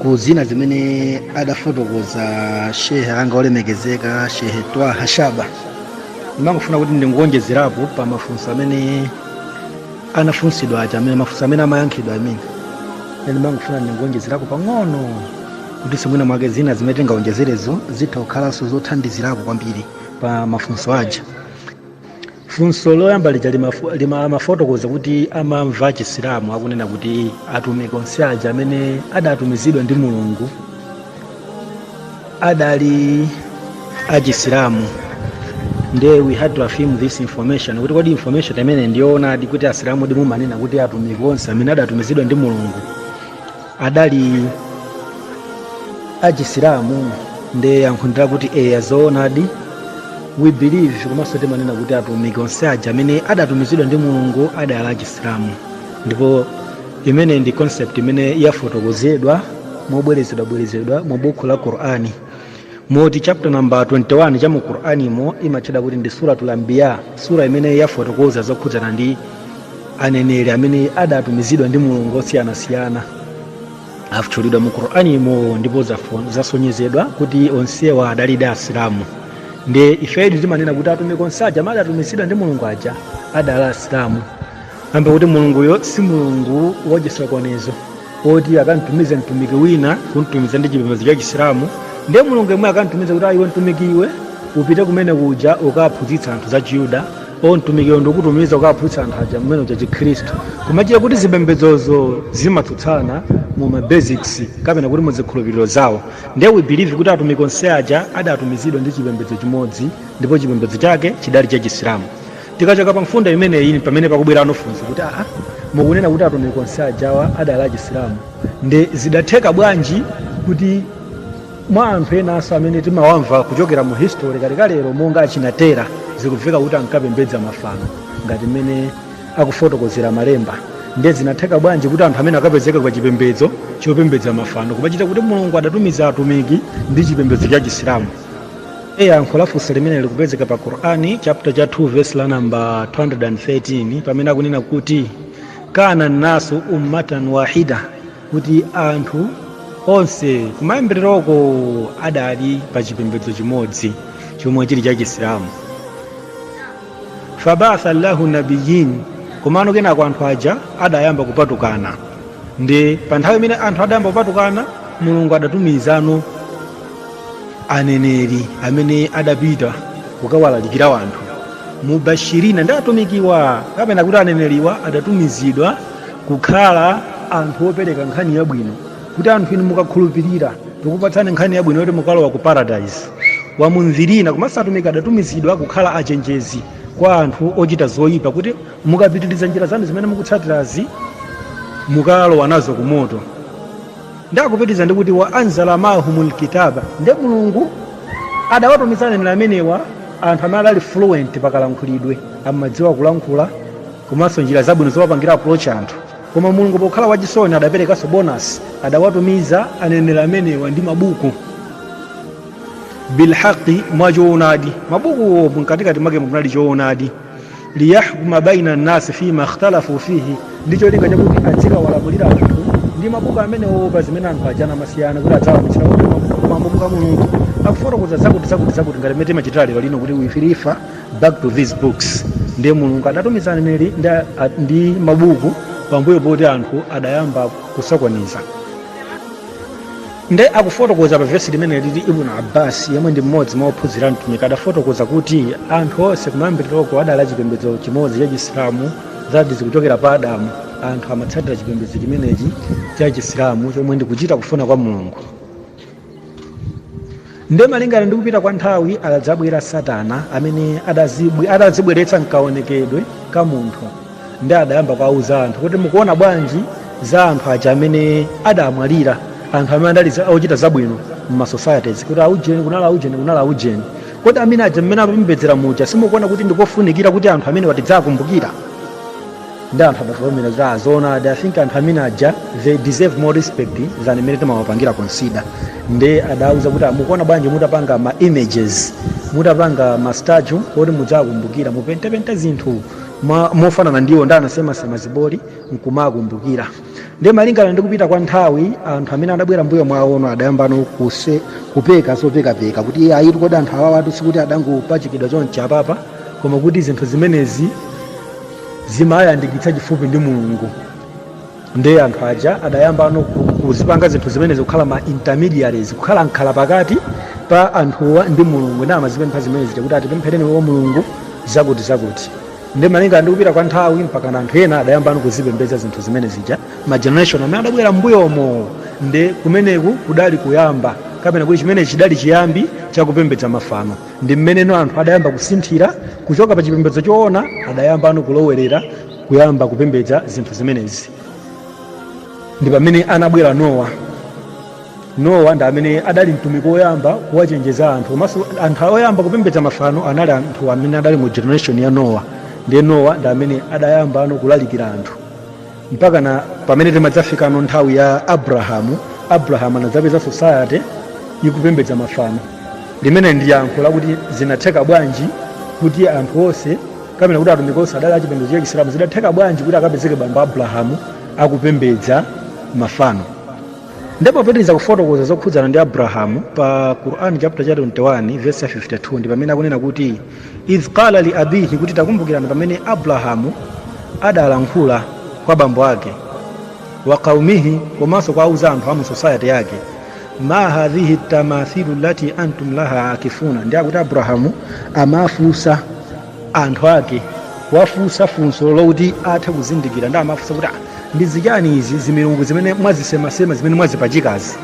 ku zina zimene adafotokoza shehe anga olemekezeka shehe twaha shaba ndimangofuna kuti ndingonjezerapo pa mafunso amene anafunsidwa aja amene mafunso amene amayankhidwa amene ndimangofuna ndingonjezerapo pang'ono kuti simwina mwake zina zimene tingawonjezerezo zitha kukhalanso zothandizirapo kwambiri pa mafunso aja funso loyamba lija limafu- lima- amafotokoza kuti amamva achisilamu akunena kuti atumiki onse aja amene adatumizidwa ndi mulungu adali achisilamu nde we had to affirm this information kuti kodi information imene ndi yoonadi kuti asilamu mumanena kuti atumiki onse amene adatumizidwa ndi mulungu adali achisilamu nde yankho ndi lakuti ayi zoonadi we believe komanso timanena kuti atumiki onse aja amene adatumizidwa ndi mulungu adali achisilamu ndipo imene ndi concept imene yafotokozedwa mobwerezabwereza mu buku la qur'ani moti chapter namba 21 cha mu qur'animo imatchedwa kuti ndi suratul anbiya sura imene yafotokoza zokhudzana ndi aneneri amene adatumizidwa ndi mulungu osiyanasiyana atchulidwa mu qur'animo ndipo zafo- zasonyezedwa kuti onsewa adalidi asilamu ndi ife timanena kuti atumiki onse aja amene adatumizidwa ndi mulungu aja adali asilamu kamba kuti mulunguyo si mulungu wachisokonezo woti akamtumize mtumiki wina kumtumiza ndi chipembedzo cha chisilamu ndiye mulungu yemwe akamtumize kuti a iwe mtumiki iwe upite kumene kuja ukaphunzitse anthu za chiyuda o mtumiki iwe ndikutumiza ukaphunzitse anthu a kumene kuja chikhristu kumachita kuti zipembedzozo zimatsutsana mu ma basics kapena kuti mu zikhulupiriro zawo ndiye we believe kuti atumiki onse aja adatumizidwa ndi chipembedzo chimodzi ndipo chipembedzo chake chidali cha chisilamu Tikachoka pa mfundo imeneyi pamene pakubwerano funso kuti aa, mukunena kuti atumiki onse ajawa adali achisilamu nde zidatheka bwanji kuti ma anthu enanso amene timawamva kuchokera mu history kalekalero monga achina Tera zikubveka kuti ankapembedza mafano ngati mmene akufotokozera malemba nde zinatheka bwanji kuti anthu amene akapezeke pa chipembedzo chopembedza mafano kumachita kuti mulungu adatumiza atumiki ndi chipembedzo cha chisilamu yankho la funso limene likupezeka pa qur'ani chapter cha 2 verse la namba 213 pamene akunena kuti kana nasu ummatan wahida kuti anthu onse kumayambiriroko adali pa chipembedzo chimodzi chomwe chili cha chisilamu faba'atha llahu nabiyin komano kenako anthu aja adayamba kupatukana ndi pa nthawi imene anthu adayamba kupatukana mulungu adatumizano aneneri amene adapita kukawalalikira anthu mubashirina ndi atumikiwa kapena kuti aneneriwa adatumizidwa kukhala anthu opereka nkhani yabwino kuti anthu inu mukakhulupirira tikupatsani nkhani yabwino yoti mukalowa ku paradise wa mundhirina komanso atumiki adatumizidwa kukhala achenjezi kwa anthu ochita zoyipa kuti mukapitiriza njira zanu zimene mukutsatirazi mukalowa nazo ku moto nde akupitiriza ndi kuti wa anzala maahumul kitaba nde mulungu adawatumiza aneneri amenewa anthu amene adali fluent pakalankhulidwe amadziwa kulankhula komanso njira zabwino zowapangira approach anthu koma mulungu pokhala wachisoni adaperekanso bonus adawatumiza aneneri amenewa ndi mabuku bilhaqi mwa choonadi mabukuwo mkatikati mwake munali choonadi liyahkuma baina nnasi fima ikhtalafu fihi ndi cholinga chakuti adzikawalamulira anthu ndi mabuku amenewo pa zimene anthu ajana amasiyana kuti adzawauza kuti mabuku a mulungu akufotokoza zakuti zakuti zakuti ngati mmene timachitira lero lino kuti we refer back to these books ndiye mulungu adatumiza aneneri ndi, a- ndi mabuku pambuyo poti anthu adayamba kusokoneza Nde akufotokoza pa vesi limeneli kuti Ibn Abbas yemwe ndi mmodzi mwa ophunzira a Mtumiki adafotokoza kuti anthu onse kumayambiliroko adali a chipembedzo chimodzi cha Chisilamu that is kuchokera pa Adamu anthu amatsatira chipembedzo chimenechi cha Chisilamu chomwe ndi kuchita kufuna kwa Mulungu. Ndiye malingana ndi kupita kwa nthawi adadzabwera Satana amene adazibwe- adadzibweretsa mkaonekedwe ka munthu nde adayamba kuwauza anthu kodi mukuona bwanji za anthu aja amene adamwalira anthu amene adali za- ochita zabwino mma societies kuti aujeni kunali aujeni kunali aujeni kodi amene aja mmene apembedzera muja simukuona kuti ndikofunikira kuti anthu amenewa tidziwakumbukira nde anthu adavomera kuti a zoonadi i think anthu amene aja they deserve more respect than imene timawapangira consider nde adawauza kuti a mukuona bwanji mutapanga ma images mutapanga ma statue oti mudziwakumbukira mupentepente zinthu ma- mofanana ndi iwo nde anasemasema ziboli nkumawakumbukira nde malingana ndi kupita kwa nthawi anthu amene adabwera mbuyo mwawo adayambano ku- kupeka zopekapeka kuti ayitu kodi anthu awawatu sikuti adangopachikidwa chonchi apapa koma kuti zinthu zimenezi zimayandikitsa chifupi ndi mulungu ndiye anthu aja adayambano ku- kuzipanga zinthu zimenezi kukhala ma intermediaries kukhala mkhala pakati pa anthuwa ndi mulungu nde amazipempha zimenezi kuti atipemphereni kwa mulungu zakuti zakuti nde malingana ndi kupita kwa nthawi mpakana anthu ena adayambano kuzipembedza zinthu zimenezija ma generation amene adabwera mbuyomo nde kumeneku kudali kuyamba kapena kuti chimene chidali chiyambi chakupembedza mafano ndi mmene anthu adayamba kusinthira kuchoka pa chipembedzo choona adayambano kulowerera kuyamba kupembedza zinthu zimenezi ndi pamene anabwera nowa nowa ndi amene adali mtumiki woyamba kuwachenjeza anthu komanso anthu oyamba kupembedza mafano anali anthu amene adali mu generation ya nowa ndiye nowa ndi amene adayambano kulalikira anthu mpakana pamene timadzafikano nthawi ya abrahamu abrahamu anadzapeza society ikupembedza mafano limene ndi yankho lakuti zinatheka bwanji kuti anthu onse kapena kuti atumiki onse adali achipembedzo cha chisilamu zidatheka bwanji kuti akapezeke bambo a abrahamu akupembedza mafano ndipo popitiriza kufotokoza zokhudzana ndi abrahamu pa quran chapter cha 21 verse ya 52 ndi pamene akunena kuti idh qala li abihi kuti takumbukirani pamene abrahamu adalankhula kwa bambo ake wa qaumihi komanso kuwauza anthu amu society yake ma hadhihi tamathilu lati antum laha akifun nde akuti abrahamu amafunsa anthu ake kuwafunsa funso lokuti athe kuzindikira nde amafunsa kuti "Ah, ndi zichani izi zimilungu zimene mwazisemasema zimene mwazipachikazi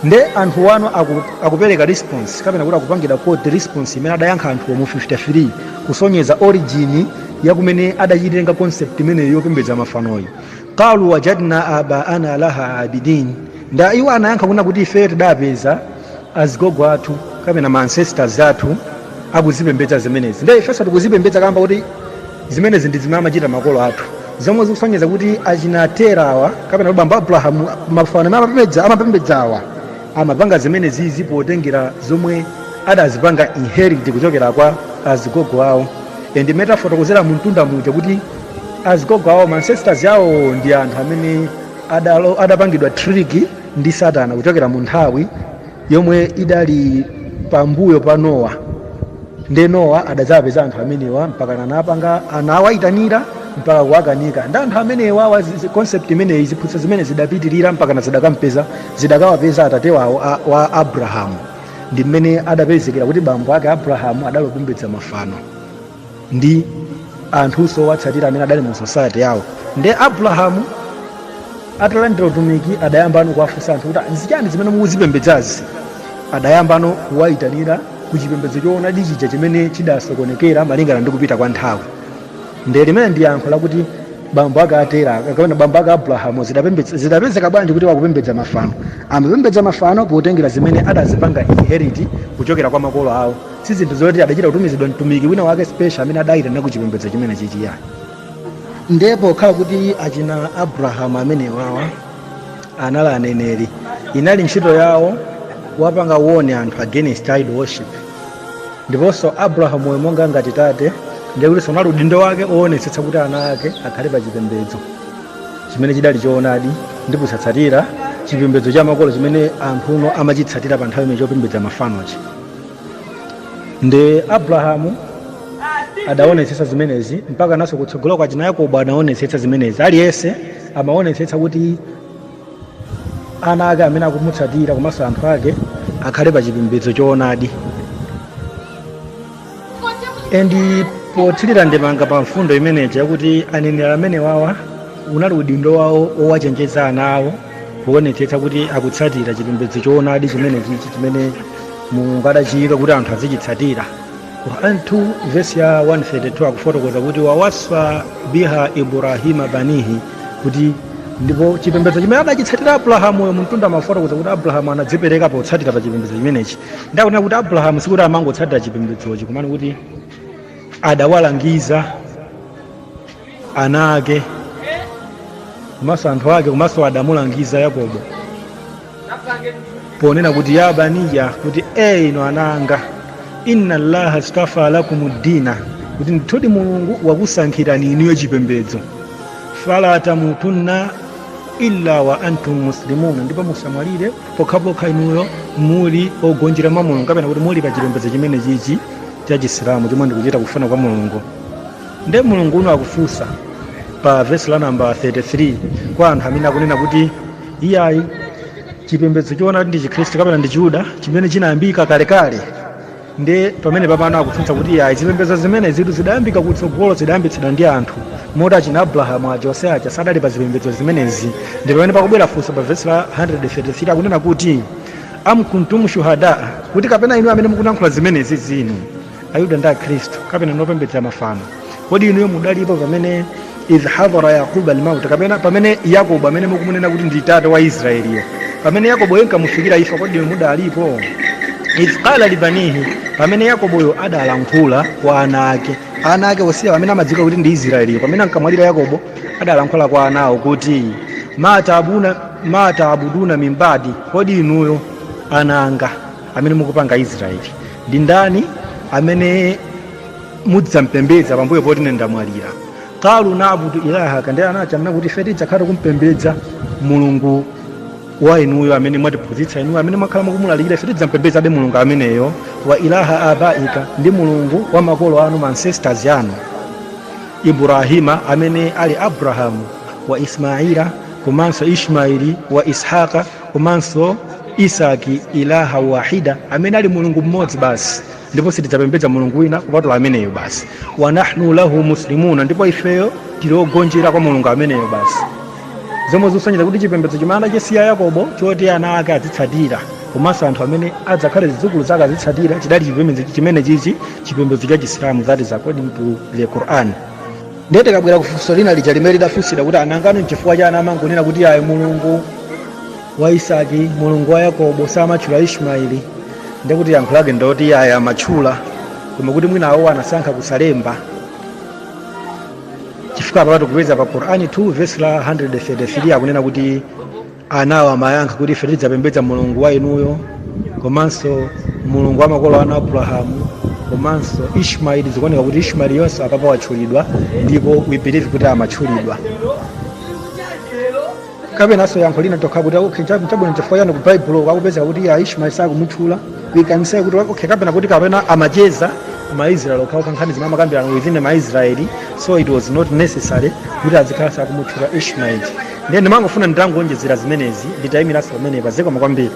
nde anthuwano aku, akupereka response kapena kuti akupangira quote response imene adayankha anthuwo mu 53 kusonyeza origin ya kumene adachitenga concept imeneyo yopembedza mafanoyi qalu wajadna abaana laha abidin nde iwo anayankha kunena kuti ifeyo tidapeza azigogo athu kapena ma ancestors athu akuzipembedza zimenezi nde ifenso tikuzipembedza kamba koti zimenezi ndi zimene amachita makolo athu zomwe zikusonyeza kuti achina terawa kapena kuti bambo a abrahamu mafano amene amapembedza amapembedzawa amapanga zimenezi potengera zomwe adazipanga inherit kuchokera kwa azigogo awo and mmene tafotokozera mumtunda muja kuti azigogo awo ancestors awo ndi anthu amene adalo- adapangidwa trick ndi satana kuchokera mu nthawi yomwe idali pambuyo pa nowa nde nowa adadzawapeza anthu amenewa mpaka anapanga anawayitanira mpaka kuwakanika ndi anthu amenewa wa zi- zi- concept imeneyi ziphunzitso zimenezi zidapitirira mpakana zidakampeza zidakawapeza atate wawo a- wa abrahamu ndi mmene adapezekera kuti bambo ake abrahamu adali opembedza mafano ndi anthunso owatsatira amene adali mu society yawo nde abrahamu atalandira utumiki adayambano kuwafunsa anthu kuti nzichani zimene mukuzipembedzazi adayambano kuwayitanira ku chipembedzo choonadi chija chimene chidasokonekera malingana ndi kupita kwa nthawi nde limene ndi yankho lakuti bambo ake a tera kapena bambo ake abrahamu zidapembedza- zidapezeka bwanji kuti akupembedza mafano amapembedza mafano potengera zimene adazipanga inherit kuchokera kwa makolo awo si zinthu zoti adachita kutumizidwa mtumiki wina wake special amene adayitana ku chipembedzo chimenechichi iyayi nde pokhala kuti achina abrahamu amenewawa anali aneneri inali ntchito yawo kuwapanga warn anthu against idol worship ndiponso abrahamu uyu monga ngati tate ndiye kuti unali udindo wake oonetsetsa kuti ana ake akhale pa chipembedzo chimene chidali choonadi ndi kusatsatira chipembedzo cha makolo chimene anthu uno amachitsatira pa nthawi imeneyo chopembedza mafanochi ndi abrahamu adaonetsetsa zimenezi mpaka naso kutsogolo kwa achina yakobo anaonetsetsa zimenezi aliyense amaonetsetsa kuti ana ake amene akumutsatira komanso anthu ake akhale pa chipembedzo choonadi and pothirira ndemanga pa mfundo imeneyi yakuti aneneri amenewawa unali udindo wawo owachenjeza ana awo kuonetsetsa kuti akutsatira chipembedzo choonadi chimenechichi chimene mulungu adachiyika kuti anthu azichitsatira quran 2 vesi ya 132 akufotokoza kuti wawaswa biha ibrahima banihi kuti ndipo chipembedzo chimene adachitsatira abrahamuyo mumtunda tamafotokoza kuti abrahamu anadzipereka potsatira pa chipembedzo chimenechi nde akunena kuti abrahamu sikuti amangotsatira chipembedzochi koma ndi kuti adawalangiza ana ake komanso anthu ake komanso adamulangiza yakobo ponena kuti ya baniya kuti e inu ana anga inna allaha stafa lakum dina kuti ndithudi mulungu wakusankhirani inuyo chipembedzo fala tamutunna illa wa antum muslimuna ndipo musamwalire pokhapokha inuyo muli ogonjera mwa mulungu kapena kuti muli pa chipembedzo chimenechichi cha chisilamu chomwe ndikuchita kufuna kwa mulungu nde mulungu uno akufunsa pa vesi la namba 33 kwa anthu amene akunena kuti iyayi chipembedzo choona ndi chikhristu kapena ndi chiyuda chimene chinayambika kalekale nde pamene papano akutsutsa kuti iyayi zipembedzo zimenezitu zidayambika kutsogolo zidayambitsidwa ndi anthu moti achina abrahamu aja onse aja sadali pa zipembedzo zimenezi ndi pamene pakubwera funso pa vesi la 133 akunena kuti am kuntum shuhadaa kuti kapena inu amene mukulankhula zimenezizi inu ayuda ndi akhristu kapena inu opembedza mafano kodi inuyo mudalipo pamene idh hadhara yaquba almauta kapena pamene yakobo amene mukumunena kuti ndi tate wa israeliyo pamene yakoboyo inkamufikira imfa kodi inu mudalipo idh qala libanihi pamene yakoboyo adalankhula kwa ana ake ana ake osiya amene amadziwika kuti ndi israeliyo pamene ankamwalira yakobo adalankhula kwa ana awo kuti ma taabuduna min badi kodi inuyo ana anga amene mukupange israeli ndi ndani amene mudzampembedza pambuyo poti ine ndamwalira qalu nabudu ilahaka ndiye anati amanena kuti ife tidzakhala tikumpembedza mulungu wa inuyo amene mwatiphunzitsa inuyo amene mwakhala mukumulalikira ife tidzampembedzabe mulungu ameneyo wa ilaha abaika ndi mulungu wa makolo anu ma ancestors anu ibrahima amene ali abrahamu wa ismaila komanso ishmaili wa ishaqa komanso isaki ilaha wahida amene ali mulungu mmodzi basi ndipo sitidzapembedza mulungu wina kupatula ameneyo basi wa nahnu lahu muslimuna ndipo ifeyo tili ogonjera kwa mulungu ameneyo basi zomwe zikusonyeza kuti chipembedzo chimene anasiya yakobo choti ana ake azitsatira komanso anthu amene adzakhale zidzukulu zake azitsatira chidali chipembedzo chimene chichi chipembedzo cha chisilamu that is according to the quran ndiye tikabwera ku funso lina lija limene lidafunsidwa kuti nangano nchifukwa chani amangokunena kuti ayi mulungu wa isaki mulungu wa yakobo samatchula ishmaeli ndiye kuti yankho lake ndoti ayi amatchula koma kuti mwina awo anasankha kusalemba chifukwa apapa tikupeza pa qur'ani 2 vesi la 133 akunena kuti anawo amayankha kuti ife tidzapembedza mulungu wa inuyo komanso mulungu wa makolo anu abrahamu komanso ishmaeli zikuoneka kuti ishmaeliyonso apapa watchulidwa ndipo we believe kuti amatchulidwa kapenanso yankho lina tinganene kuti okay cha- chabwino chifukwa chani ku baibulo akupezeka kuti yayi ishmaeli sakumutchula we can say kuti okay kapena kuti kapena amacheza maisraeli okhaokha nkhani zimene amakambirana within maisraeli so it was not necessary kuti azikhala akumutchula ishmaeli ndiye ndimangofuna nditangoonjezera zimenezi nditayimiranso pamenepa zikomo kwambiri